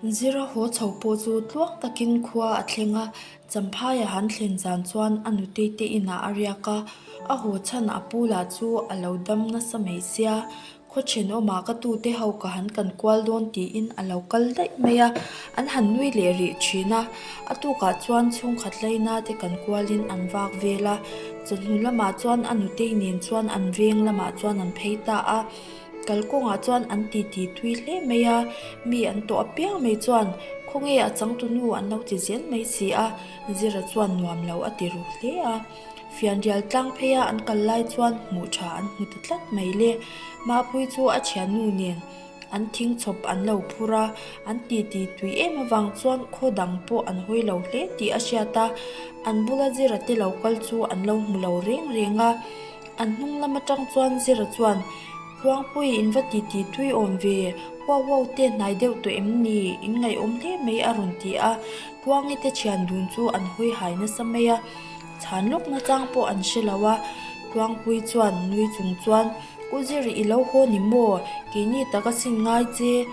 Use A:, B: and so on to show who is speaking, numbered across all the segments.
A: Zira haw chho pawh chu tluak takin khua a thleng a, Champhaia han thlen zan chuan a nu Teite inah a riak a, a haw chhan a pu lah chu a lo dam nasa mai sia, khaw then awmah ka tu te ho ka han kan kual dawn tiin a lo kal daih mai a, an han nui leh rih thin a, a tukah chuan chhungkhat lei na te kan kualin an vak vel a, chawhnu lamah chuan a nutei nen chuan an veng lamah chuan an phei ta a. Kalkawngah chuan an titi tui hle mai a, mi an tawh apiang mai chuan, Khawnge a changtunu an lo chichian mai si a, zira chuan nuam lo a ti ru hle a. Fianrial tlang pheia an kal lai chuan hmuh tha an hmu ta tlat mai le. Mahpui chu a thiannu nen an thing chhawp an lo phur a, an titi tui em avang chuan khaw dang pawh an hawi lo hle tih a hriat a, an bula zira te lo kal chu an lo hmu lo reng reng a. An hnung lam atang chuan Zira chuan, Hluangpui in va titi tui awm ve, huau huau te hnai deuh tawh em ni? In ngaihawm hle mai a rawn ti a, Hluangi te thian dun chu an hawi hai nasa mai a, chhan lawk na chang pawh an hre lo a. Hluangpui chuan nui chung chuan, U Zir i lo haw ni maw? Keini tak a sin ngai che,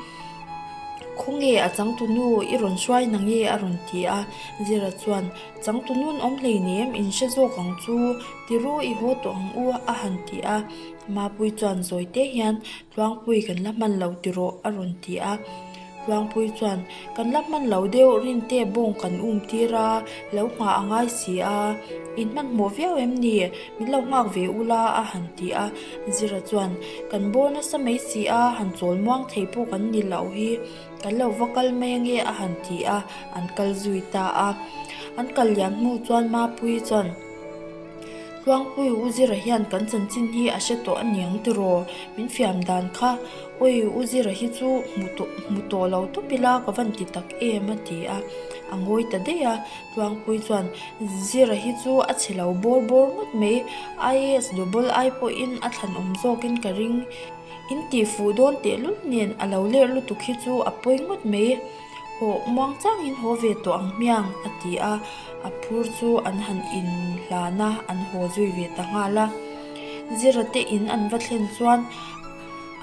A: khawnge a changtunu i rawn hruai na nge? a rawn ti a. Zira chuan, Changtunun awm hlein em? In hre zawk ang chu. Ti ru i haw tawh ang u a han ti a, Mapui chuan zawite hian Tluangpui kan la hman lo ti rawh a rawn ti a, Tluangpui chuan kan la hman lo deuh rinte bawng kan um tir a, lo nghah a ngai si a, in hmanhmawh viau em ni? Min lo nghak ve u la a han ti a, Zira chuan kan bawr nasa mai si a, han chawl muang thei pawh kan ni loh hi, kan lo va kal mai ange a han ti a, an kal zui ta a, an kal lian hnu chuan Mapui chuan. Tluangpui u Zira hian kan chanchin hi a hre tawh a niang tiraw? Min fiam dan kha. Awi, u Zira hi chu hmu tawh hmu tawh lo tawp ila ka van ti tak em a ti a, a ngawi ta daih a. Tluangpui chuan, Zira hi chu a chhe lo bawr bawr ngawt mai. IAS dobol ai pawhin a thlan awm zawkin ka ring. In tihfuh dawn tehlul nen a lo ler lutuk hi chu a pawi ngawt mai. Haw, muang changin haw ve tawh ang hmiang, a ti a. A phur chu an han in hlan a, an haw zui ve ta nghal a. Zira te in an va thlen chuan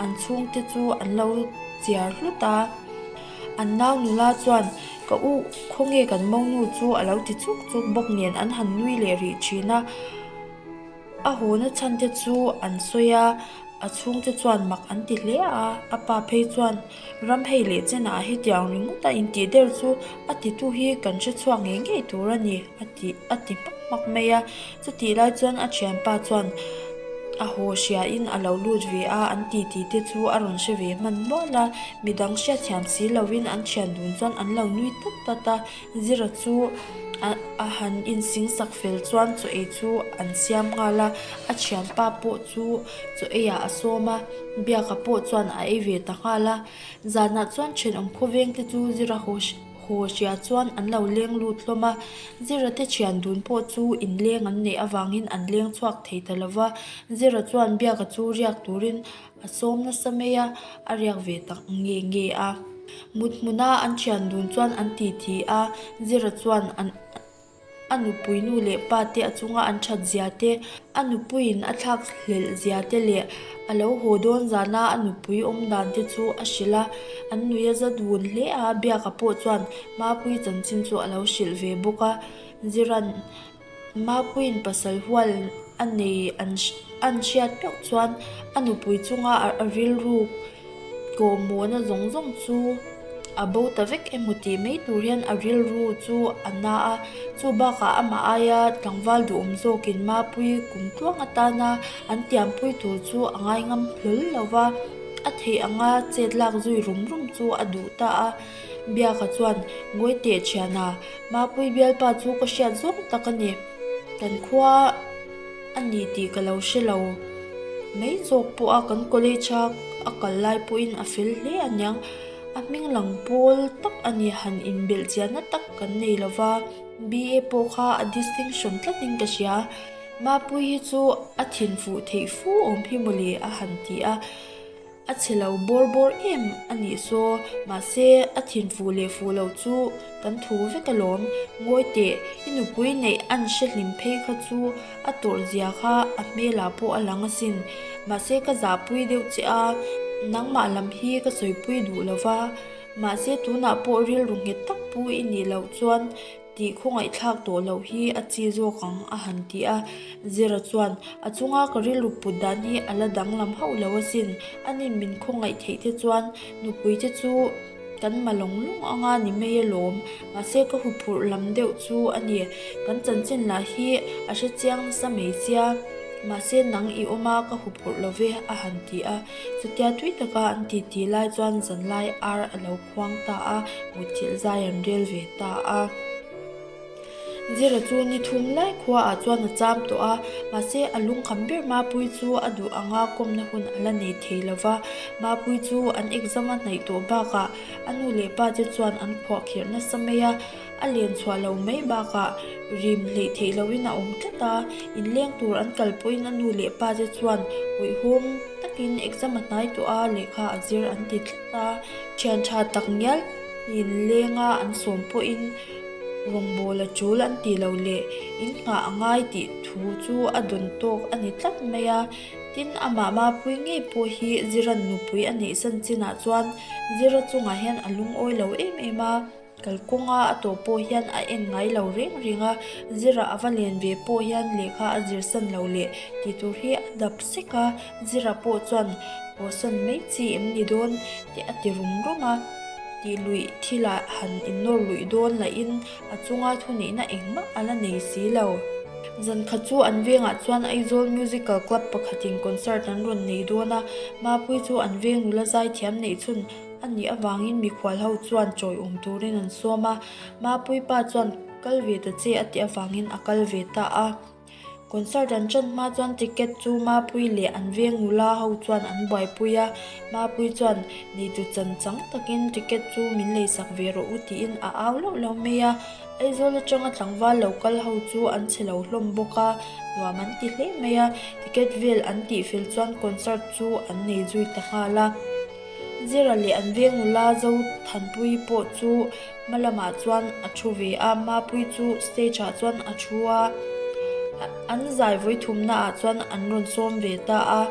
A: an chhung te chu an lo chiar hlut a. An nau nula chuan, Ka u, khawnge kan monu chu a lo ti chuk chuk bawk nen an han nui leh rih thin a. A haw na chhan te chu an sawi a, a chhung te chuan mak an ti hle a. A pa phei chuan. Ramhei leh Chena a hetiang ringawt a, intih der chu a titu hi kan hre chhuak ngei ngei tur a ni, a ti a ti hmak hmak mai a. Chutih lai chuan a thianpa chuan a haw hriain a lo lut ve a, an titi te chu a rawn hre ve hman nual a, midang hriat thiam si loin an thian dun chuan an lo nui tlat tlat a. Zira chu a han insing sak fel chuan chaw ei chu an siam nghal a, a thianpa pawh chu chaw ei ah a sawm a, biaka pawh chuan a ei ve ta nghal a. Zanah chuan thenawm khawveng te chu Zira haw haw hria chuan an lo leng lut hlawm a, Zira te thian dun pawh chu in leng an neih avangin an leng chhuak thei ta lo va, Zira chuan biaka chu riak turin A sawm nasa mai a, a riak ve tak nge nge a. Mut hmuna an thian dun chuan an ti thi a, Zira chuan a nupui nu leh pa te a chunga an that zia te, a nupuiin a thlak hlelh zia te leh a lo haw dawn zana a nupui awm dan te chu a hrilh a. An nuia zat vun hle a, biaka pawh chuan mapui chanchin chu a lo hrilh ve bawk a. Ziran. Mapui'n pasal hual a nei a an hriat meuh chuan a nupui chunga a rilru kawhmawhna zawng zawng chu a bo ta vek em aw tih mai tur hian a rilru chu a na a. Chu bakah amah aia tlangval duhawm zawkin Mapui kum tluang atana an tiampui tur chu a ngaingam hlawl lo va, a theih anga chet lak zui rum rum chu a duh ta a. Biaka chuan, Ngawi teh thian a, Mapui bialpa chu ka hriat zawk tak a ni. Kan khua a ni tih ka lo hre lo. Mei zawk pawha kan college a a kal lai pawhin a fel hle a niang. A hming lang pawl tak a ni. Han inbelh chian na tak kan nei lo va. BA pawh kha a distinction tlatin ka hria. Mapui hi chu a thinfuh theih fu awm hi mawle a han ti a. A chhe lo bawr bawr em a nih saw, mahse a thin fuh leh fuh loh chu kan thu vek alawm. Ngawi teh, i nupui neih an hre hlim phei kha chu a tawrh zia kha a hmelah pawh a lang asin. Mahse ka zahpui deuh che a, nangmah lam hi ka sawipui duh lo va. Mahse tunah pawh rilru nghet tak pu i nih loh chuan, tih khawngaihthlak tawh loh hi a chi zawk ang a han ti a, Zira chuan a chunga ka rilru put dan hi a la danglam hauh lo asin, anih min khawngaih theih te chuan nupui te chu kan malawng lawng ang a ni mai alawm, mahse ka huphurh lam deuh chu a ni, kan chanchin lah hi a hre chiang nasa mai sia, mahse nang i awm a ka huphurh lo ve a han ti a, chutia tui taka an titi lai chuan zanlai ar a lo. khuang ta a, mutchilh zai an rel ve ta a. Zira chu ni thum lai khua ah chuan a cham tawh a, mahse a lung kham ber Mapui chu a duh ang a, kawmna hun a la nei thei lo va. Mapui chu an exam a hnaih tawh bak ah a nu leh pa te chuan an khuah kher nasa mai a, a len chhuah lo mai bak ah rim hleih theih lo in a awm tlat a, in leng tur an kal pawh in a nu leh pa te chuan hawihhawm tak in exam a hnai tawh a, lehkha a zir an ti tlat. A thian tha tak ngial in lenga an sawm pawhin rawngbawla chul an ti lo leh in nghah a ngai tih thu chu a dawn tawk a ni tlat mai a. Tin, a mama pui ngei pawh hi Zira nupui a nih san chinah chuan Zira chungah hian a lungawi lo em em a. Kalkawnga a tawh pawh hian a en ngai lo ring ring a, Zira a va len ve pawh hian lehkha a zir san lo leh tih tur hi a dap sek a, Zira pawh chuan aw san mai chi em ni dawn tih a ti rum rum a, tih luih thila han innawr luih dawn lah in a chunga thunihna engmah a la nei si lo. Zan kha chu an vengah chuan Aizawl Musical Club pakhatin concert an rawn nei dawn a, Mapui chu an veng nula zai thiam neih chhun, A nih avangin mikhual ho chuan chawiawm turin an sawm a, Mapui pa chuan kal ve ta che a tih avangin a kal ve ta a. Concert an chan hma chuan ticket chu Mapui leh an veng nula ho chuan an buaipui a, Mapui chuan neitu chan chang takin ticket chu min lei sak ve rawh u tiin a au lauh lo mai a. Aizawl atanga tlangval lo kal ho chu an chhe lo hlawm bawk a, nuam an ti hle mai a, ticket vel an tih fel chuan concert chu an nei zui ta nghal a. Zira leh an veng ula zo Thanpuii pawh chu hma lamah chuan a thu ve a, Mapuii chu stage ah chuan a thu a, an zai vawi thumna ah chuan an rawn sawm ve ta a,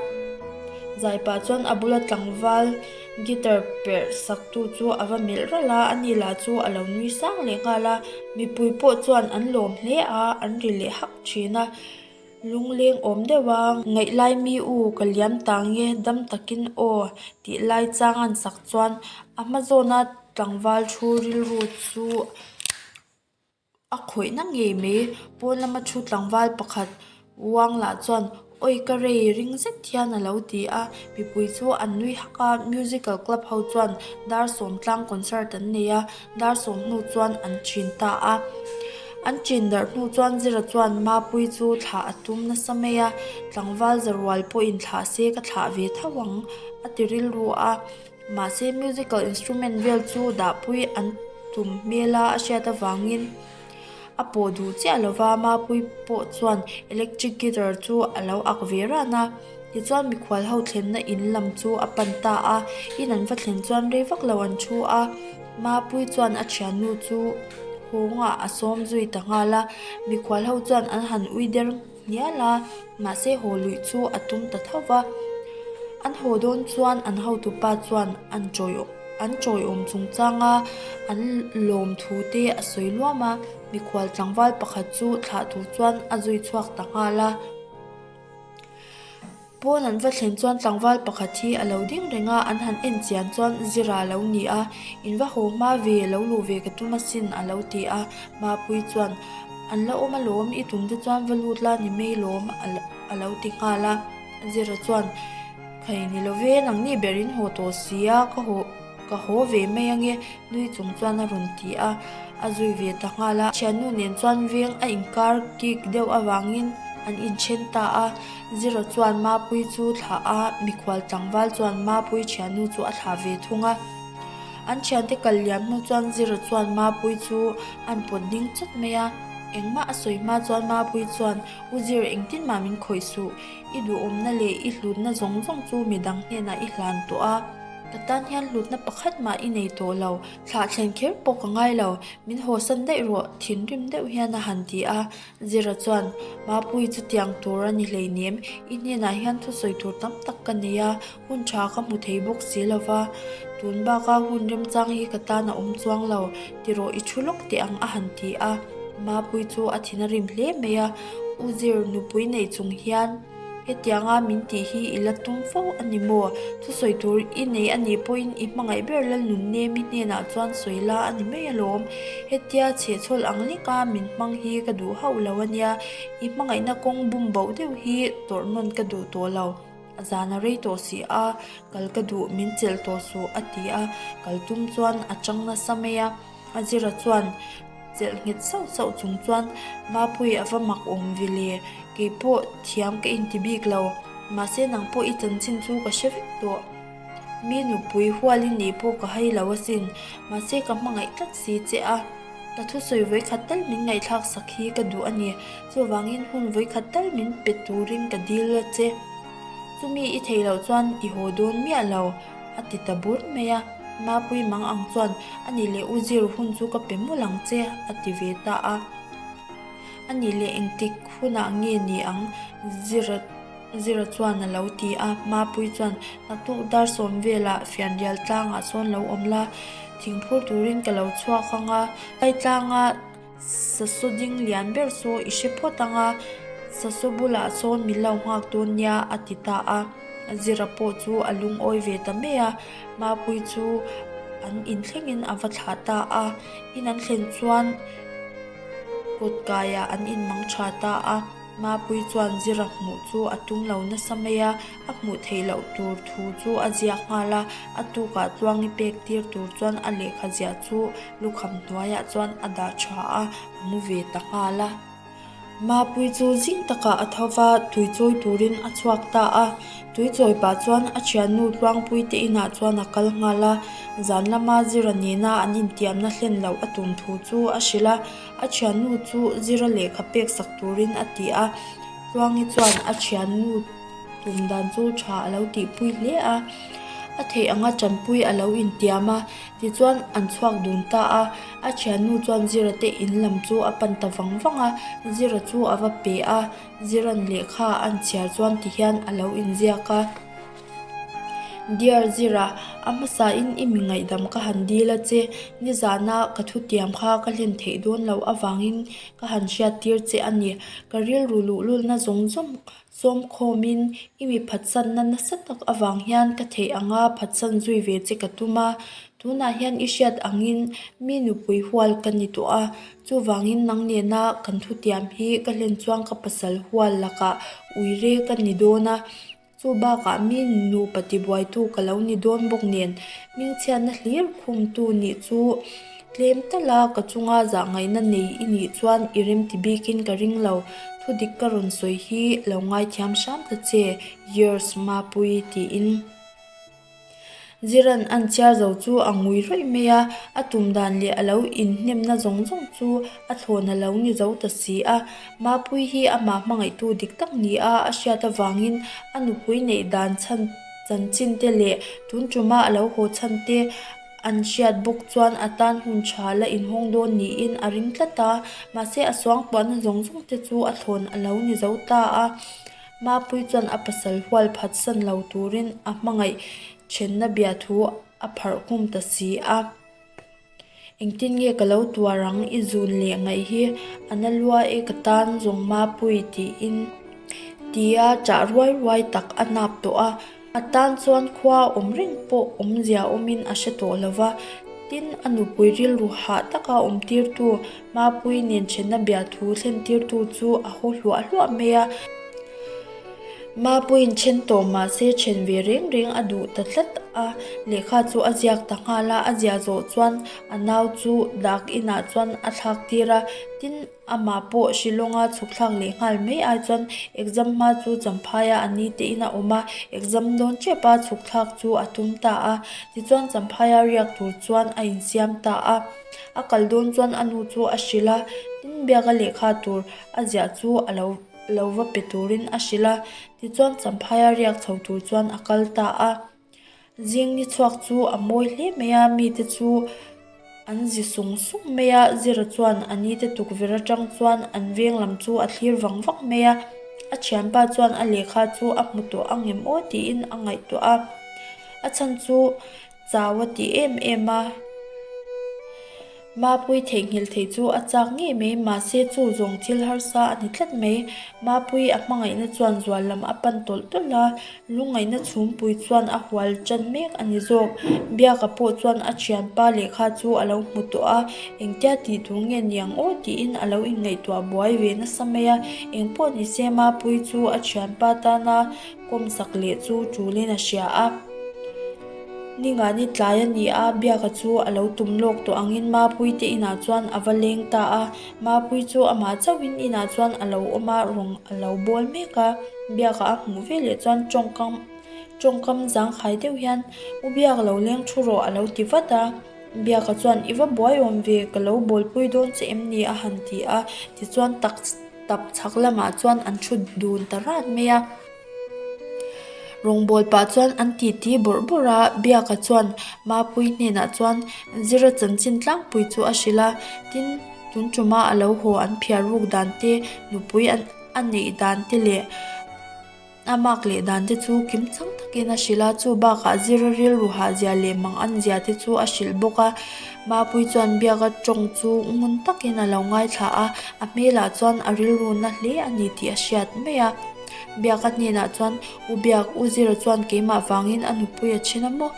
A: Zaipa chuan a bula tlangval guitar perh sak tu chu a va melh ralh a, a ni lah chu a lo nui sang leh nghal a, Mipuii pawh chuan an lawm hle a, an ri leh hak thin a. Lungleng awm deuh a, ngaih lai mi u ka liam ta nge dam takin aw tih lai chang an sak chuan a hma zawna tlangval thu rilru chu a khawih na ngei mai. Pawn lama thu tlangval pakhat uang lah chuan awi ka rei ring zet hian a lo ti a, mipui chu an nui hak a, musical club ho chuan dar sawm tlang concert an nei a. Dar sawm hnu chuan an chin ta a, an chin darh hnu chuan Zira chuan Mapui chu thlah a tum nasa mai a, tlangval za rual pawhin thlah se ka thlah ve tho ang a ti rilru a, mahse musical instrument vel chu Dapui an tum hmel a a hriat avangin. A pawh duh chiah lo va, Mapui pawh chuan electric guitar chu a lo ak ve ran a. Tichuan mikhual ho thlenna in lam chu a pan ta a, in an va thlen chuan rei vak lo an thu a. Mapui chuan a thiannu chu hawngah a sawm zui ta nghal a, mikhual ho chuan an han ui der. ngial a, mahse haw luih chu a tum ta thauh va. An haw dawn chuan an hotu pa chuan an chawi an chawiawm chungchang a, an lawm thu te a sawi luam a, mikhual tlangval pakhat chu thlah tur chuan a zui chhuak ta nghal a. Pawn an va thlen chuan tlangval pakhat hi a lo ding reng a, an han en chian chuan zira lo ni a, in va haw hma ve lo luh ve ka tum asin a lo ti a, Mapui chuan an la awm alawm i tum te chuan va lut la ni mai lawm a lo ti nghal a, Zira chuan phei ni lo ve nang ni ber in haw tawh si a ka haw. Ka haw ve mai ange, Nui chung chuan a rawn ti a, a zui ve ta nghal a. Thiannu nen chuan veng a inkar kik deuh avangin an inthen ta a, Zira chuan Mapui chu thlah a, mikhual tlangval chuan Mapui thiannu chu a thlah ve thung a. An thiante kal liam hnu chuan Zira chuan Mapui chu an pawt ding chawt mai a, engmah a sawi hma chuan Mapui chuan, U Zir engtin mah min khawih suh, i duhawmna leh i hlutna zawng zawng chu midang hnenah i hlan tawh a, Ka tan hian hlutna pakhat mah i nei tawh lo, thlah thlen kher pawh ka ngai lo, min hawsan daih rawh, thinrim deuh hian a han ti a. Zira chuan, Mapuii chutiang tur a ni hleinem, i hnenah hian thusawi tur tam tak ka nei a, hun tha ka hmu thei bawk si lo va, tun baka hun remchang hi ka tan a awm chuang lo, ti rawh i thu lawk teh ang a han ti a. Mapuii chu a thin a rim hle mai a, U Zir nupui neih chung hian. Hetianga min tih hi i la tum fo a ni maw? Chu sawi tur i nei a nih pawhin i hmangaih ber la nun nge mi hnenah chuan sawi la a ni mai alawm. Hetia chhe chhawl ang lek a min hmang hi ka duh hauh lo a nia. I hmangaihna kawng bum boh deuh hi tawrh nawn ka duh tawh lo. A zan a rei tawh si a, kal ka duh min chelh tawh suh a ti a, kaltum chuan a chang nasa mai a. Azira chuan chelh nghet sauh sauh chung chuan, Bapuii a va mak awm vile, kei pawh thiam ka inti bik lo, mahse nang pawh i chanchin chu ka hre vek tawh. Mi nupui hualin nih pawh ka hai lo asin, mahse ka hmangaih tlat si che a, ka thusawi vawi khat tal min ngaihthlak sak hi ka duh a ni, chuvangin hun vawi khat tal min pe turin ka dil che. Chumi i thei loh chuan i haw dawn miah lo. A ti ta bur mai a, Mapui mang ang chuan a nih leh u zir hun chu ka pe mul ang che a ti ve ta a. A nih leh engtik hunah nge ni ang Zira Zira chuan a lo ti a, Mapui chuan naktuk dar sawm velah fianrial tlangah sawn lo awm la, thingphur turin ka lo chhuak ang a, Tlai tlanga. Sasaw ding lian ber saw i hre phawt ang a, Sasaw bulah sawn min lo nghak dawn nia a ti ta a. Zira pawh chu a lungawi ve ta mai a, Mapui chu an in thlengin a va thlah ta a. In an thlen chuan kut kaiah an in mang tha ta a, Mapui chuan Zira hmuh chu a tum lo nasa mai a. A hmuh theih loh tur thu chu a ziak nghal a, a tukah chuang i pek tir tur chuan a lehkha ziah chu lukham hnuaiah chuan a dah tha a, a mu ve ta nghal a. Mapui chu zing takah a tho va, tui chawi turin a chhuak ta a. Tui chawi pah chuan a thiannu Tluangpui te inah chuan a kal nghal a, zan lama Zira nena an intiamna hlen loh a tum thu chu a hrilh a. A thiannu chu Zira lehkha peksak turin a ti a, Tluangi chuan a thiannu. Kum dan chu tha a lo tihpui hle a, a theih anga Tanpuii a lo intiam a, tichuan an chhuak dun ta a, a thiannu chuan Zira te in lam chu a pan ta vang vang a, Zira chu a va pe a, Zira'n lehkha an chhiar chuan ti hian a lo inziak a, Dear Zira, a hmasain i mi ngaihdam ka han dil a che, nizana ka thutiam kha ka hlen theih dawn loh avangin ka han hriattir che a ni, ka rilru luhlulna zawng zawng Sawmkhawm in i miphatsan na nasa tak avang hian ka theih ang a, phatsan zui ve che ka tum a. Tunah hian i hriat ang in mi nupui hual ka ni tawh a, chuvang in nang nena kan thu tiam hi ka hlen chuang ka pasal hual lakah ui re ka ni dawn a. Chu bakah mi nupa tibuaitu ka lo ni dawn bawk nen, mingchhiatna hlir khum tu nih chu Tlem ta la, ka chunga zahngaihna nei i nih chuan i remti bikin ka ring lo. Thudik ka rawn sawi hi lo ngaithiam hram ta che. Yours Mapui tiin Ziran an chiar zo chu a ngui ruih mai a, a tum dan leh a lo inhnemna zawng zawng chu a thlawn a lo ni zo ta si a. Mapui hi amah hmangaihtu dik tak ni a, a hriat avangin a nupui neih dan chhan chanchin te leh tun tuma a lo haw chhan te, an hriat bawk chuan a tan hun tha la inhawng dawn niin a ring tlat a, mahse a suangpuahna zawng zawng te chu a thlawn a lo ni zo ta a, Mapuii chuan a pasal hual phat san lo turin a hmangaih ṭhenna bia thu a pharh nghum ta si a, Engtin nge ka lo tuar ang i zun leh ngaih hi a na lua e ka tan zawng Mapuii tiin tia ṭah ruai ruai tak a nâp tawh a. A tan chuan khua a awm reng pawh awmzia awmin a hre tawh lo va, tin a nupui rilru hah taka awmtirtu Mapui nen ṭhenna bia thu thlentirtu chu a haw hluah hluah mai a. Mapui'n ṭhen tawh mah se ṭhen ve reng reng a duh ta tlat a, lehkha chu a ziak ta nghal a, a ziah zawh chuan a nau chu dak inah chuan a thlak tir a, tin. Amah pawh Shilawnga chhukthlak leh nghal mai ai chuan exam hma chu Champhaia a ni tein a awm a, exam dawn tep a chhukthlak chu a tum ta a. Tichuan Champhaia riak tur chuan a insiam ta a. A kal dawn chuan a nu chu a hrilh a, tin biaka lehkha tur a ziah chu a lo lo va pe turin a hrilh a. Tichuan Champhaia riak chho tur chuan a kal ta a. Zingni chhuak chu a mawi hle mai a, mite chu an zi sung sung mai a, zira chuan a ni te tukverh atang chuan an veng lam chu a thlir vang vang mai a, a thianpa chuan a lehkha chu a hmu tawh a nge maw tiin a ngaihtuah a, a chhan chu chau a ti em em a. Mapui theihnghilh theih chu a chak ngei mai, mahse chu zawng thil harsa a ni tlat mai. Mapui a hmangaihna chuan zual lam a pan tawlh tawlh a, lungaihna chhungpui chuan a hual tan mek a ni zawk. Biaka pawh chuan a thianpa leh kha chu a lo hmu tawh a, engtia tih tur nge ni ang aw tiin a lo inngaihtuah buai ve nasa mai a. Engpawh ni se Mapui chu a thianpa tana. Kawmsak leh chu tulin a hria a, Ni ngah ni tlai a ni a, biaka chu a lo tum lawk tawh angin Mapui te inah chuan a va leng ta a. Mapui chu amah chauhin inah chuan a lo awm a, rawn a lo bawl mek a. Biaka a hmuh ve leh chuan tawngkam tawngkam zangkhai deuh hian, U biak lo leng thu rawh a lo ti vat a. Biaka chuan, I va buaiawm ve, ka lo bawlpui dawn che em ni? a han ti a, tichuan takstap chhak lamah chuan an thut dun ta rat mai a. Rawngbawlh pah chuan an titi bawrh bawrh a, Biaka chuan Mapui hnenah chuan zira chanchin tlangpui chu a hrilh a, tin, tun ṭuma a lo haw an phiar ruk dan te, nupui a neih dan te leh. A mak leh dan te chu kim chang takin a hrilh a, chu bakah zir a rilru hahzia leh mang an zia te chu a hrilh bawk a. Mapui chuan biaka tawng chu ngun takin a lo ngaithla a, a hmelah chuan a rilruna hle a ni tih a hriat mai a. Biaka hnenah chuan, U Biak, U Zira chuan keimah vangin a nupui a chhin a maw?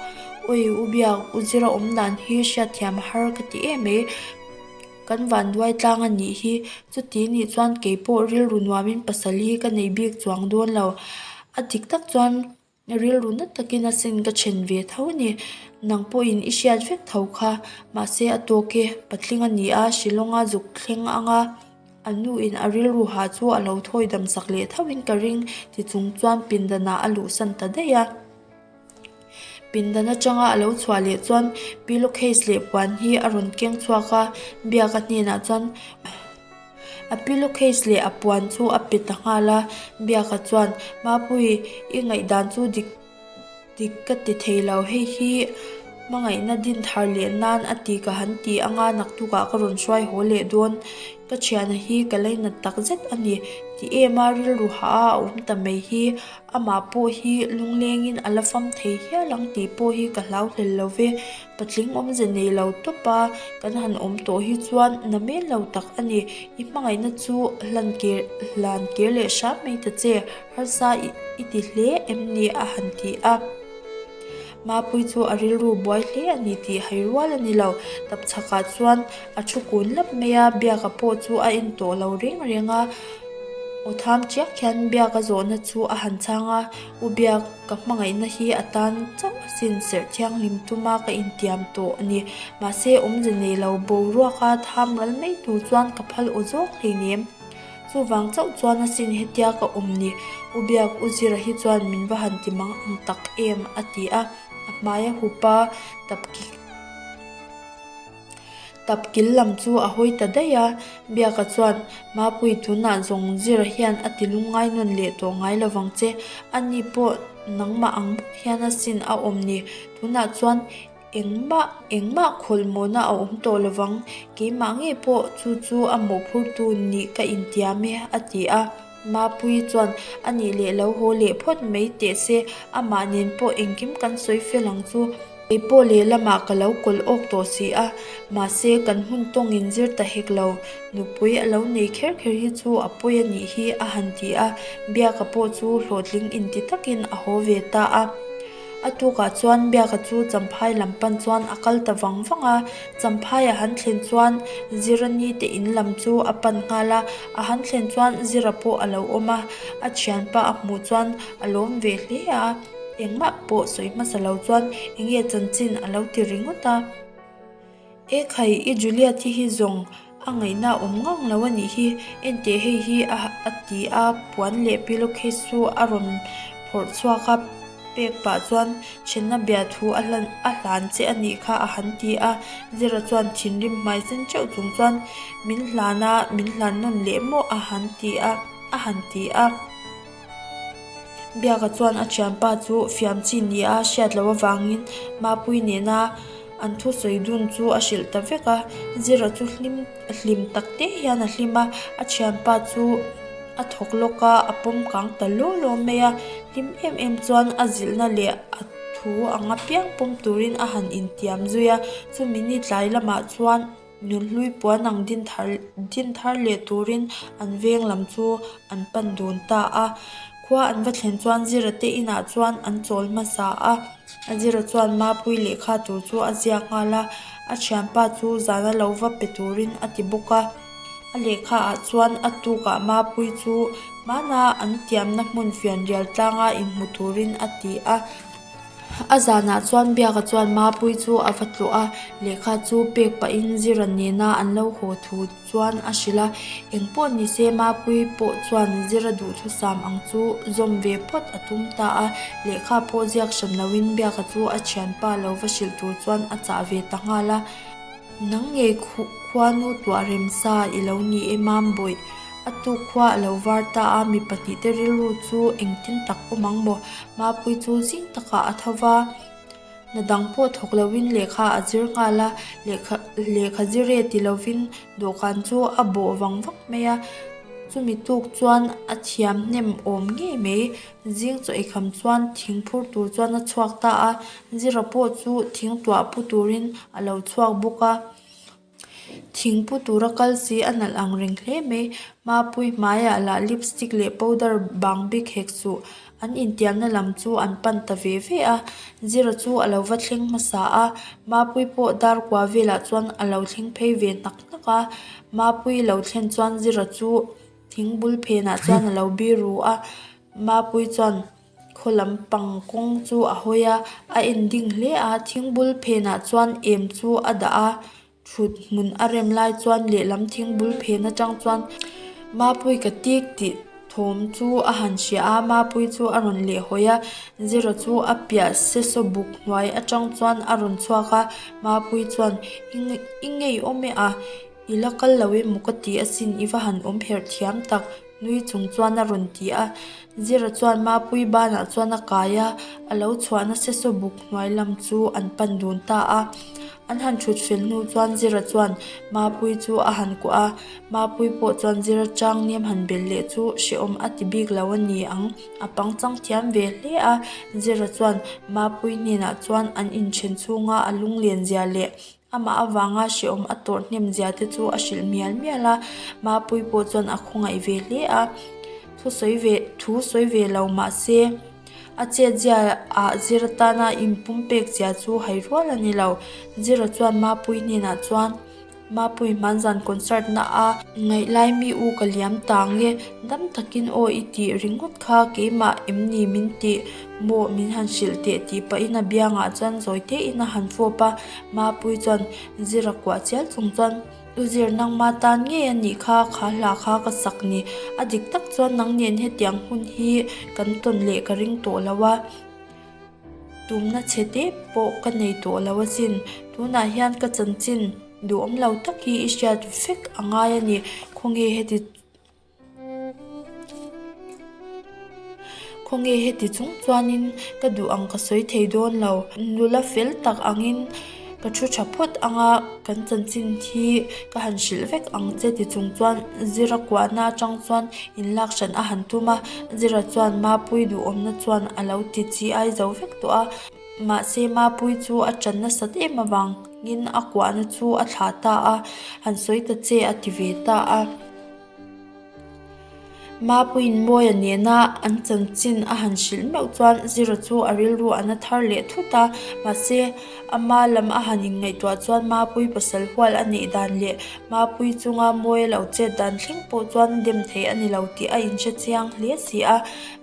A: Awi, U Biak, U Zira awmdan hi hriatthiam a har ka ti em e. Kan vanduai tlang a nih hi. Chuti nih chuan kei pawh rilru nuamin pasal hi ka nei bik chuang dawn lo. A dik tak chuan rilru nat takin a sin ka then ve tho ni. Nang pawhin i hriat vek tho kha. Mahse a tawk e, patling a ni a, Shillong a zuk thleng ang a. A nu in a rilru ha chu a lo thawi dam sak leh thauhin ka ring. Tichung chuan pindan ah a luh san ta daih a. Pindan atanga a lo chhuah leh chuan pillow case leh puan hi a rawn keng chhuak a, biak a hnenah chuan a pillow case leh a puan chu a pe ta nghal a, biak ah chuan Mapuii i ngaihdan chu dik dik ka ti thei lo, hei hi hmangaihna din thar leh nan a ti ka han ti anga naktuk ah ka rawn hruai haw leh dawn, ka thianah hi ka lainat takzet a ni, ti em a rilru hah a a awm ta mai hi. Amah pawh hi lunglengin a la fam thei hial ang tih pawh hi ka hlau hlel lo ve. Patling awmze nei lo tawp a, kan han awm tawh hi chuan na men lo tak a ni. I hmangaihna chu hlan kir hlan kir leh hram mai ta che, harsa i ti hle em ni? a han ti a. Mapui chu a rilru buai hle a ni tih hai rual a ni lo. Tapchhakah chuan a thu kun lap mai a, biaka pawh chu a en tawh lo reng reng a. Aw tham chiang khian biaka zawhna chu a han chang a, U Biak ka hmangaihna hi a tan chauh asin, serh thianghlim tum a ka intiam tawh a ni. Mahse awmze nei lo, boruaka tham ral mai tur chuan ka phal aw zawk thei nem. Chuvang chauh chuan a sin hetia ka awm ni, U Biak U Zira hi chuan min va han ti mang ang tak em? a ti a, a hmai a hup a, tapkik tapkil lam chu a hawi ta daih a, Biaka chuan, Mapui tunah zawng Zira hian a ti lung ngai nawn leh tawh ngai lo vang che, ani pawh nangmah ang bawk hian a sin a awm ni, tunah chuan Engmah engmah khawlmawna a awm tawh lo vang, keimah ngei pawh chu chu a mawhphurtu nih ka intiam e, a ti a. Mapui chuan, A nih leh lo, haw leh phawt mai teh se, amah nen pawh engkim kan sawi fel ang chu, keipawh lehlamah ka lo kawlh awk tawh si a, mahse kan hun tawngin zir ta hek lo, nupui a lo nei kher kher hi chu a pawi a nih hi, a han ti a, biaka pawh chu hlawhtling inti takin a haw ve ta a. A tukah chuan biaka chu Champhai lam pan chuan a kal ta vang vang a, Champhai a han thlen chuan Zira ni te in lam chu a pan nghal a, a han thlen chuan Zira pawh a lo awm a, a thianpa a hmuh chuan a lawm ve hle a, engmah pawh sawi hmasa lo chuan enge chanchin a lo ti ringawt a. E khai i Julia thi hi zawng a ngaihna a awm ngawng lo a nih hi, enteh hei hi a a ti a, puan leh pillowcase chu a rawn phawrh chhuak a, pek pah chuan ṭhenna bia thu a hlan a hlan che a nih kha a han ti a, Zira chuan thinrim hmai zen ṭeuh chung chuan min hlan a, min hlan nawn leh maw a han ti a, a han ti a. Biaka chuan a thianpa chu fiam chi nia hriat loh avangin Mapui nena an thu sawi dun chu a hrilh ta vek a. Zira chu hlim hlim tak te hian a hlim a, a thianpa chu a thawk lawk a, a pawm kang ta lo lo mai a. Hlim em em chuan a zilhna leh a thu anga piang pawm turin a han intiam zui a. Chumi ni tlai lamah chuan. Nunhlui puan ang din thar din thar leh turin an veng lam chu an pan dun ta a. Khua an va thlen chuan Zira te inah chuan an chawl hmasa a. A Zira chuan mapui lehkha tur chu a ziak nghal a, a thianpa chu zan a lo va pe turin a ti bawk a. A lehkha ah chuan a tukah mapui chu hmana an tiamna hmun fian rial tlanga inhmu turin a ti a. A zanah chuan biaka chuan Mapui chu a va tlawh a, lehkha chu pek pahin zir an nen a, an lo haw thu chuan a hrilh a. Eng pawh ni se Mapui pawh chuan zir a duh thusam ang chu zawm ve phawt a tum ta a, lehkha pawh ziak hran loin biaka chu a thianpa lo va hrilh tur chuan a chah ve ta nghal a. Nang nge khua nu tuah rem sa i lo ni e mam bawih, a tu khua a lo var ta a, mi pahnih te rilru chu engtin tak awm ang maw? Mapui chu zing takah a tho va, na dang pawh thawk lo in lehkha a zir nghal a, lehkha lehkha zir e ti lo in dawhkan chu a bawh vang vak mai a, chu mi tuk chuan a thiam hnem awm ngei mai. Zing chawihkham chuan thing phur tur chuan a chhuak ta a, zira pawh chu thing tuah pu turin a lo chhuak bawk a. Thing pu tura kal si a nalh ang reng hle mai. Mapui hmaiah lah lipstick leh powder bang bik hek suh an intiamna lam chu an pan ta ve ve a. Zira chu a lo va thleng hmasa a, Mapui pawh dar kua velah chuan a lo thleng phei ve hnak hnak a. Mapui lo thlen chuan Zira chu. Thing bul phenah chuan a lo biru a, Mapui chuan khaw lam pang kawng chu a hawi a, a en ding hle a, thing bul phenah chuan em chu a dah a, thut hmun a rem lai chuan lehlam thing bul phen atang chuan Mapui ka tik tih thawm chu a han hria a, Mapui chu a rawn leh hawi a, zero chu a piah se saw buk hnuai atang chuan a rawn chhuak a, Mapui chuan i ngei awm e a. I la kal lo em u ka ti asin i va han awm herh thiam tak, Nui chung chuan a rawn ti a. Zira chuan Mapui banah chuan a kai a, a lo chhuah nasa saw buk hnuai lam chu an pan dun ta a. An han thut fel hnu chuan Zira chuan Mapui chu a han kuah a, Mapui pawh chuan Zira chang niam han bel leh chu hrehawm a ti bik lo a ni ang. A pangchang thiam ve hle a, Zira chuan Mapui hnenah chuan an inchhen chhunga a lunglen zia leh Amah avanga hrehawm a tawrh hnem zia te chu a hrilh hmial hmial a, Mapui pawh chuan a khawngaih ve hle a, thu sawi ve thu sawi ve lo mahse a chet zia ah zir atana in pum pek zia chu hai rual a ni lo. Zira chuan Mapui hnenah chuan Mapui hman zan concert na a ngaih lai mi u ka liam tang nge dam takin aw i tih ringawt kha keimah em ni min tih maw min han hrilh teh tih pahin a biangah chuan zawite in a han fawp a. Mapuii chuan zir a kuah chial chung chuan, U Zir nangma tan ngei a nih kha, kha hla kha ka sak ni. A dik tak chuan nang nen hetiang hun hi kan tawn leh ka ring tawh lo a, tumna chhe te pawh ka nei tawh lo asin. Tunah hian ka chanchin duhawm lo tak hi i hriat fek a ngai a ni. Khawnge heti. Khawnge heti chung chuanin ka duh ang ka sawi thei dawn lo. Nula fel tak angin ka thu tha phawt anga kan chanchin hi ka han hrilh vek ang che tichung chuan Zira kuahna atang chuan in lak hralh a han tum a Zira chuan Mapui duhawmna chuan a lo ti chi ai zo vek tawh a mahse Mapui chu a tan nasat em avangin a kuahna chu a thlah ta a han sawi ta che a ti ve ta a. Mapuiin Mawiah nena an chanchin a han hrilh meuh chuan Zira chu a rilru an a thar leh thut a. Mahse, ama lam a han inngaihtuah chuan Mapui pasal hual a neih dan leh Mapui chunga Mawia lo chet dan thleng pawh chuan a dem thei a ni lo tih a inhre chiang hle si a.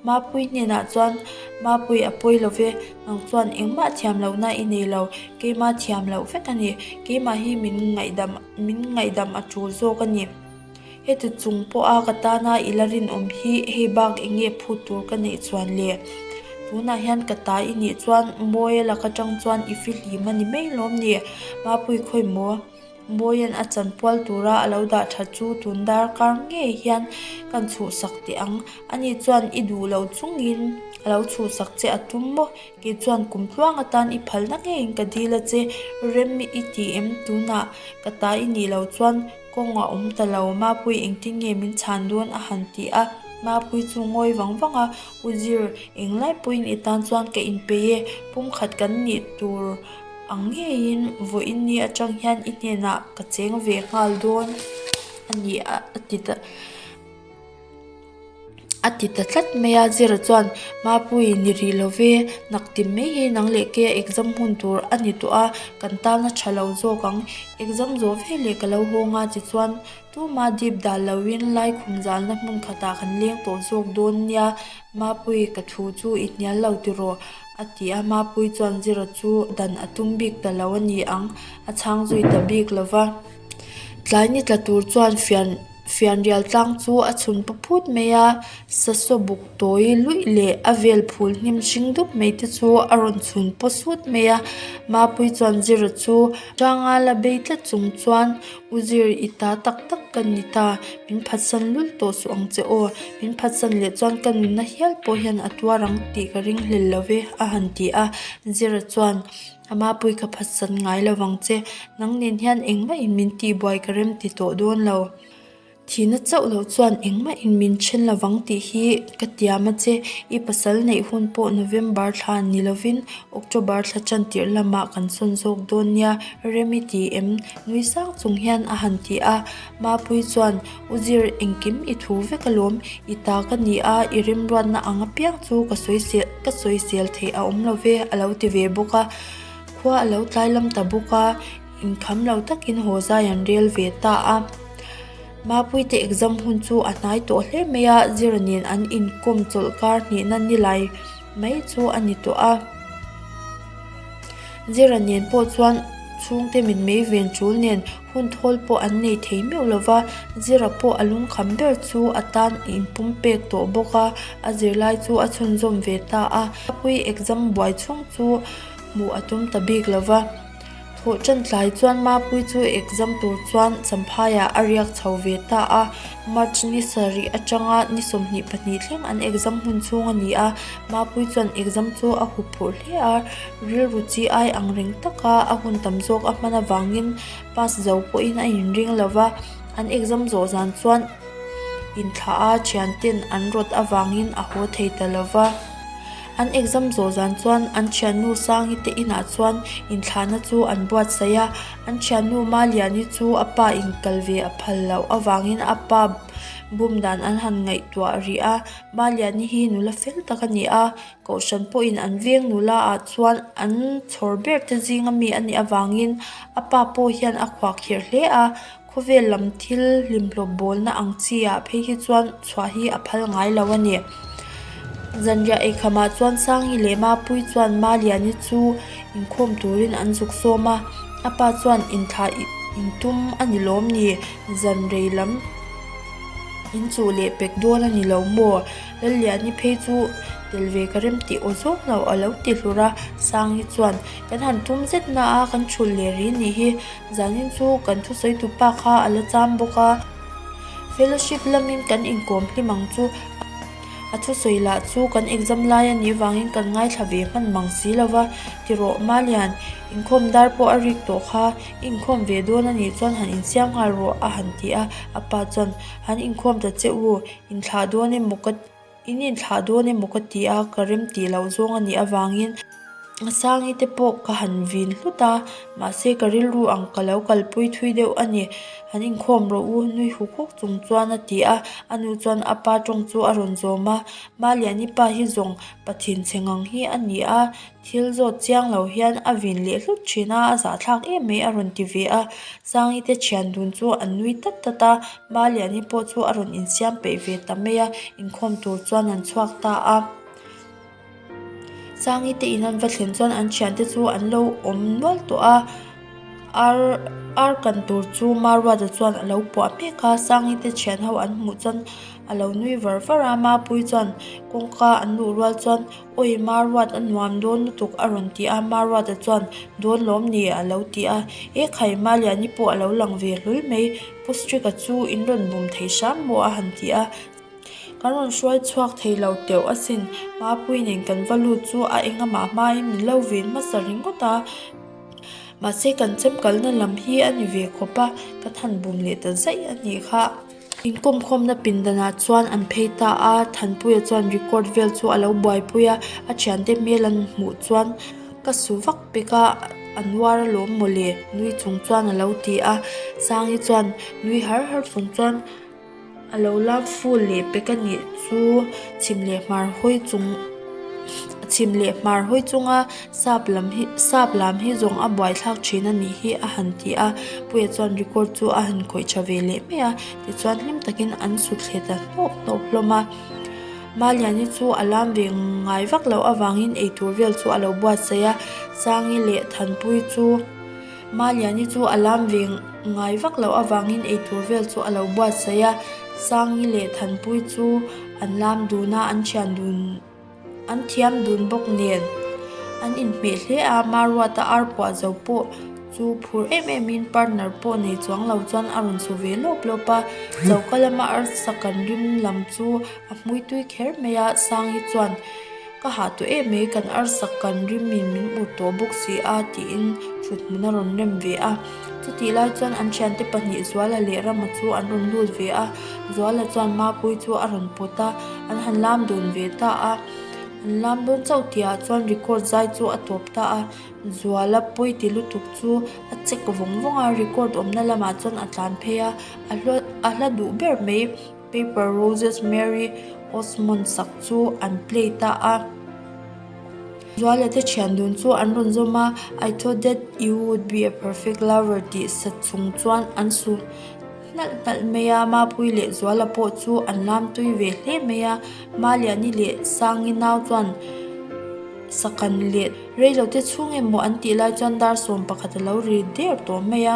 A: Mapui hnenah chuan, Mapui a pawi lo ve, nang chuan engmah thiam lohna i nei lo, keimah thiam loh vek a ni. Keimah hi min ngaihdam, min ngaihdam a tul zawk a ni. Heti chung pawha ka tana i la rinawm hi hei bak eng nge phut tur ka neih chuan le? Tunah hian ka ta i nih chuan Mawia lak atang chuan i fihlim a ni mai lawm ni? Mapui khawi maw? Mawia'n a chan pual tura a lo dah tha chu tun darkar ngei hian kan chhuhsak teh ang. Ani chuan i duh loh chungin a lo chhuhsak che a tum maw? Kei chuan kum tluang atan i phalna ngeiin ka dil a che rem i ti em? Tunah ka ta i nih loh chuan. Kawng a awm ta lo, Mapui engtin nge min chhan dawn? a han ti a, Mapui chu ngawi vang vang a, U Zir, eng lai pawhin i tan chuan ka inpeih e, pumkhat kan nih tur ang ngeiin vawi in ni atang hian i hnenah ka cheng ve nghal dawn a ni a, a ti ta. a ti ta tlat mai a zira chuan mapuii ni rih lo ve nak ti mai hi nang leh ke exam hun tur a ni tawh a kan tan a tha lo zawk ang exam zawh ve leh ka lo hawng a tichuan tuma dip dan lo in lai khum zal na hmun khat ah kan leng tawh zawk dawn nia mapuii ka thu chu i hnial lo ti rawh a ti a mapuii chuan zira chu dan a tum bik ta lo a ni ang a chhang zui ta bik lo va tlai ni tla tur chuan fian-- fianrial tlang chu a chhun pa phut mai a sasaw buk tawi luih leh a vel phul hnim hring dup mai te chu a rawn chhun paw sut mai a mapui chuan zira chu tanga la bei tlat chung chuan u zir i ta tak tak ka ni ta min phatsan lul tawh suh ang che aw min phatsan leh chuan ka nunna hial pawh hian a tuar ang tih ka ring hlel lo ve a han ti a zira chuan-- Ama Pui ka phatsat ngai lo vang che, nang nen hian engmah in min tihbuai ka rem ti tawh dawn lo. Thihna chauh loh chuan engmah in min then lo vang tih hi ka tiam a che. I pasal neih hun pawh November thla ni lovin October thla chantirh lamah kan sawn zawk dawn nia rem i ti em? Nui sang chung hian a han ti a. Mapui chuan. U Zir, engkim i thu vek alawm, i ta ka ni a, i rimruatna ang apiang chu ka sawi sel ka sawi sel thei a awm love a lo ti ve bawk a, khua a lo tlai lam ta bawk a, inkham lo takin haw zai an rel ve ta a. Mapuite exam hun chu a hnai tawh hle mai a, Zira nen an inkawm chawlh kar hnihna ni lai mai chu a ni tawh a, Zira nen pawh chuan chhungte mitmei ven chul nen, Hun thawl pawh an nei thei meuh lo va, Zira pawh a lung kham ber chu a tan in pum pek tawh bawk a, a zirlai chu a chhunzawm ve ta a. Khawpui exam buai chhung chu hmuh a tum ta bik lo va, thawh tan tlai chuan Mapui chu exam tur chuan Champhaiah a riak chho ve ta a. March ni sarih atanga ni sawmhnih pahnih thleng an exam hun chhung a ni a, Mapui chuan exam chu a hup phurh hle a. Rilru chi ai ang reng tak a, a hun tam zawk a hman avangin pass zo pawhin a inring lo va, an exam zawh zan chuan inthlah a thianten an rawt avangin a haw thei ta lo va. An exam zawh zan chuan an thiannu Sangi te inah chuan inthlahna chu an buatsaih a, an thiannu Maliani chu a pa inkal ve a phal loh avangin a pa bum dan an han ngaihtuah rih a, Maliani hi nula fel tak a ni a, Kohhran pawhin an veng nul a, ah chuan an chhawr ber te zinga mi a nih avangin a pa pawh hian a khuah kher hle a. Khawvel lam thil hlimhlawp bawlna ang chiah phei hi chuan chhuah hi a phal ngai lo a ni. Zanriah eikhama chuan Sangi leh Mapui chuan Maliani chu inkhawm turin an zuk sawm a, a pa chuan inthla intum a ni lawm ni, zanrei lam inchuh leh pek dawn a ni lo maw? Lalliani phei chu tel ve ka rem tih aw zawk lo a lo ti hlur a, Sangi chuan, Kan han tum zet na a, kan chhut leh rih nih hi, zanin chu kan thusawitu pa kha a la cham bawk a, Fellowship lamin kan inkawm hlim ang chu a thusawi lah chu kan exam lai a nih vangin kan ngaithla ve hman mang si lo va, ti rawh Malian, inkhawm dar pawh a rik tawh kha, i inkhawm ve dawn a nih chuan han insiam nghal rawh a han ti a, a pa chuan, Han inkhawm ta che u. In thlah dawn emaw ka in in thlah dawn emaw ka ti a, ka rem tih loh zawng a nih avangin a sangi te pawh ka han vin hlut a, mahse ka rilru ang ka lo kalpui thui deuh a ni. Han inkhawm rawh u, nui huk huk chung chuan a ti a, a nu chuan a pa tawng chu a rawn zawm a, Maliani pa hi zawng pathinchhe ngang hi a ni a, Thil zawt chiang lo hian a vin leh hlut thin a, a zahthlak em mai a rawn ti ve a. Sangi te thian dun chu an nui tlat tlat a, Maliani pawh chu a rawn insiam peih ve ta mai a, inkhawm tur chuan an chhuak ta a. Sangi te in an va thlen chuan an thian te chu an lo awm nual tawh a, ar ar kan tur chu Maruata chuan a lo puah mek a, Sangi te thian ho an hmuh chuan a lo nui var var a, Mapui chuan kawngka an luh rual chuan. Awi, Marwat a nuam dawn lutuk a rawn ti a, Marwat a chuan, Dawn lawm ni a lo ti a, e khai Malia ni pawh a lo lang ve hlui mai, Pu Strick-a chu in rawn bum thei hrang maw a han ti a, kan rawn hruai chhuak thei lo teuh asin, Mapui nen kan va lut chu a enga mah hma in min lo vin hmasa ringawt a, mahse kan chemkalna lam hi a ni ve khawp a, ka than bum leh ta zaih a nih kha. Inkhawm khawmna pindanah chuan an phei ta a, Thanpuia chuan record vel chu a lo buaipui a, a thiante hmel an hmuh chuan ka suh vak pek a, an uar a lawm maw le? Nui chung chuan a lo ti a, Sangi chuan nui har har chung chuan a lo lam ful leh pek a nih chu chhim leh hmar hawi chung chhim leh hmar hawi chunga. Sap lam hi, sap lam hi zawng a buaithlak thin a nih hi a han ti a, Puia chuan record chu a han khawih tha ve leh mai a, tichuan hlim takin an sut thlet ta hnawk hnawk hlawm a. Maliani chu a lam ve ngai vak loh avangin eitur vel chu a lo buatsaih a, Sangi leh Thanpui chu, Maliani chu a lam ve ngai vak loh avangin eitur vel chu a lo buatsaih a, Sangi leh Thanpui chu an lam dun a, an thian dun. An thiam dun bawk nen. An inhmeh hle a, Maruata arpuah zo pawh chu phur em em in partner pawh nei chuang lo chuan a rawn su ve lawp lawp a. Choka lama arsa kan rim lam chu a hmui tui kher mai a, Sangi chuan Ka hah tawh em mai, kan arsa kan rim in min ut tawh bawk si a tiin thuthmuna rawn rem ve a. Chutih lai chuan an thiante pahnih Zuala leh Rama chu an rawn lut ve a, Zuala chuan Mapui chu a rawn pawt a, an han lam dawn ve ta a. An lam dawn chauh tih ah chuan record zai chu a tawp ta a, Zuala pawi ti lutuk chu a check vawng vawng a, record awmna lamah chuan a tlan phei a, a hla duh ber mai. Paper Roses Mary Osmond sak chu an play ta a. Zualia te thian dun chu an rawn zawm a, I thought that you would be a perfect lover tih sat chung chuan an su hnalh hnalh mai a, Mapui leh Zuala pawh chu an lam tui ve hle mai a. Maliani leh Sangi nau chuan Sakan leh Reilo te chhung emaw an tih lai chuan dar sawm pakhat a lo ri der tawh mai a.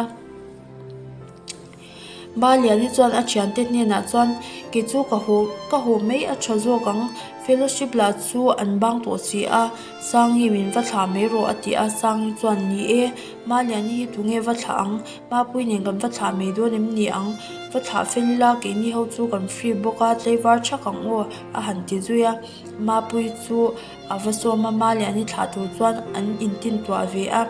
A: Baliani chuan a thiante hnenah chuan, Kei chu ka haw, ka haw mai a tha zawk ang. Fellowship lah chu an bang tawh si a, Sangi min va thlah mai rawh a ti a. Sangi chuan, Ni e, Baliani hi tunge va thlah ang? Mapui nen kan va thlah mai dawn em ni ang? Va thlah fel ila, keini ho chu kan free bawk a, tleivar thak ang aw, a han ti zui a. Mapui chu a va sawm a, Baliani thlah tur chuan an intintuah ve a.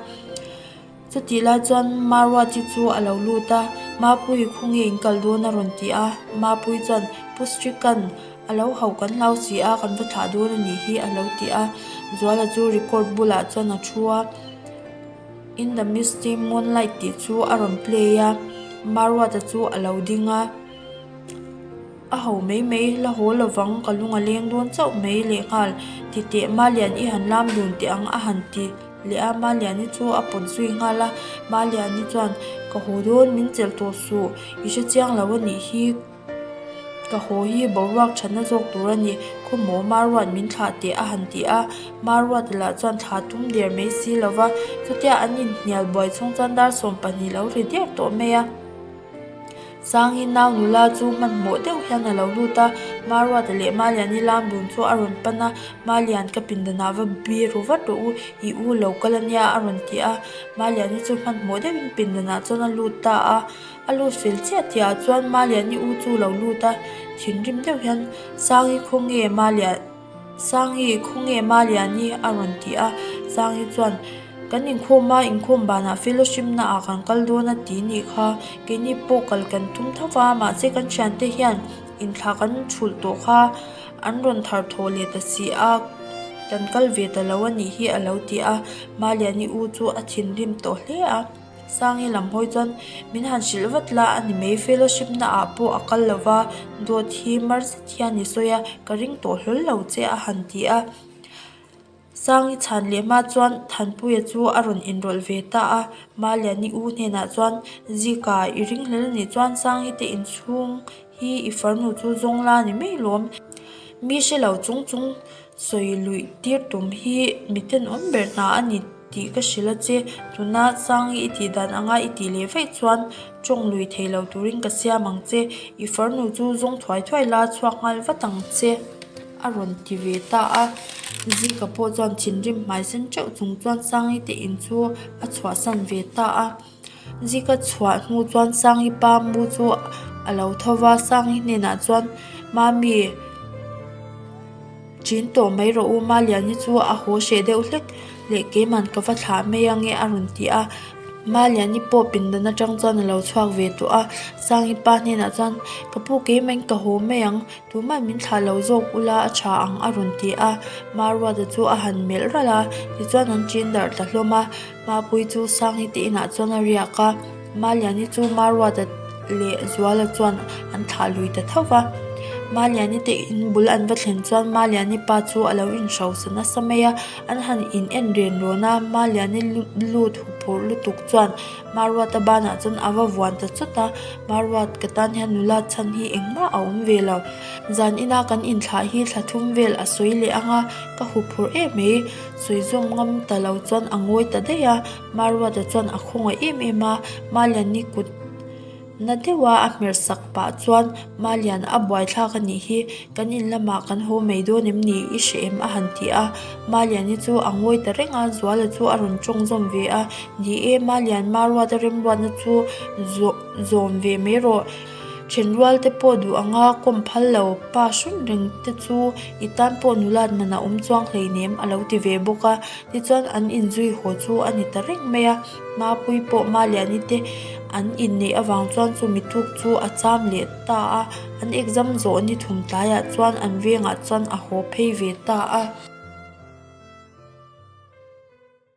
A: Chutih lai chuan Marwati chu a lo lut a, Mapui khaw nge in kal dawn a rawn ti a, Mapui chuan Pu Srikan a lo hauh kan hlau si a, kan va thlah dawn a nih hi a lo ti a, Zuala chu record bulah chuan a thu a, In the misty moonlight tih chu a rawn play a, Marwata chu a lo ding a. A ho mai mai, la haw lovang, ka lung a leng dawn chauh mai leh nghal. Ti teh, Malian i han lam dun teh ang a han ti leh a, Maliani chu a pawt zui nghal a, Maliani chuan, Ka haw dawn, min chelh tawh suh, i hre chiang lo a nih hi, ka haw hi boruak thatna zawk tur a ni, khawmaw Marwat min thlah teh a han ti a, Marwat lah chuan thla tum der mai si lo va, chutia an inhnial buai chhung chuan dar sawm pahnih lo hre diau tawh mai a. Sanghi nau nula chu hmanhmawh deuh hian a lo lut a, Maruata leh Malian i lam dun chu a rawn pan a, Malian ka pindanah va bir ru vat rawh u, i u lo kal ania a rawn ti a, Malian i chu hmanhmawh deuhin pindanah chuan a lut ta a, a lut fel chiah chiah ah chuan Malian i u chu lo lut a, thinrim deuh hian Sanghi khawnge Malian. Sanghi, Khawnge Maliani a rawn tih a, Sanghi chuan, Kan inkhawm a, inkhawm banah fellowship na ah kan kal dawn a ti nih kha, keini pawh kal kan tum tho va, mahse kan thian te hian in thla kan chhulh tawh kha, an rawn thar thaw leh ta si a, kan kal ve ta lo a nih hi a lo ti a, Maliani u chu a thinrim tawh hle a. Sang hi lam hawi chuan min han hrilh vat la a ni mai fellowship na ah pawh a kal lo va dawt hi mar zet hian ni sawi a ka ring tawh hlawl lo che a han ti a sang i chhan leh hma chuan thanpuia chu a rawn enroll ve ta a maliani u hnenah chuan zika i ring hlel a nih chuan sang hi te in chhung hi i farnu chu zawng la ni mai lawm mi hrelo chung chung sawi luih tir tum hi miten awm ber ta a ni tih ka hre la che tuna chang i ti dan anga i ti leh vaih chuan tawng lui thei lo turin ka siam ang che i far nu chu zawng thuai thuai la chhuak nghal vat ang che a rawn ti ve ta a zika pawh chuan thinrim hmai sen teuh chung chuan sangi te in chu a chhuah san ve ta a. Zika ka chhuah hnu chuan Sangi pa mu chu a lo tho va, Sangi hnenah chuan Mami ṭin tawh mai rawh u, ma Liani chu a haw hreh deuh hlek leh keiman ka va thlah mai ange a rawn ti a, ma Liani pawh pindan aṭang chuan a lo chhuak ve tawh a, Sangi pa hnenah chuan ka pu keiman ka haw mai ang tumah min thlah lo zawk u la a ṭha ang a rawn ti a, ma Ruata chu a han melh ralh a, tichuan an ṭin darh ta hlawm a. Mapuii chu Sanghi te inah chuan a riak a, Maliani chu Marwata leh Zuala chuan an thah lui ta thauh va. Maliani te in bul an va thlen chuan Maliani pa chu a lo inhrausa nasa mai a, an han in en ren rawn a, Maliani lut huphurh lutuk chuan Marwata banah chuan a va vuan ta chawt a, Marwatka tan hian nula chhan hi engmah a awm ve lo. Zan ina kan inthlah hi thla thum vel a sawi leh ang a, ka huphurh em mai. Suizawm ngam ta lo chuan a ngawi ta daih a, Marwata chuan a khawngawih em em a, Malian ni kut na deuh a a hmerh sak pah chuan, Malian a buaithlak a nih hi, kan in lamah kan haw mai dawn em ni i hre em a han ti a, Malian ni chu a ngawi ta reng a, Zuala chu a rawn tawng zawm ve a, Ni e, Malian Marwata remruatna chu zawh zawm ve mai rawh. Then rual te pawh duh ang a kawm phal lo, pa hrunh reng te chu i tan pawh nula hman a awm chuang hleinem a lo ti ve bawk a, tichuan an inzui haw chu a ni ta reng mai a, Mapui pawh ma leh an i te an inneih avang chuan chu mituk chu a cham leh ta a, an exam zawh ni thum tlaiah chuan an vengah chuan a haw phei ve ta a.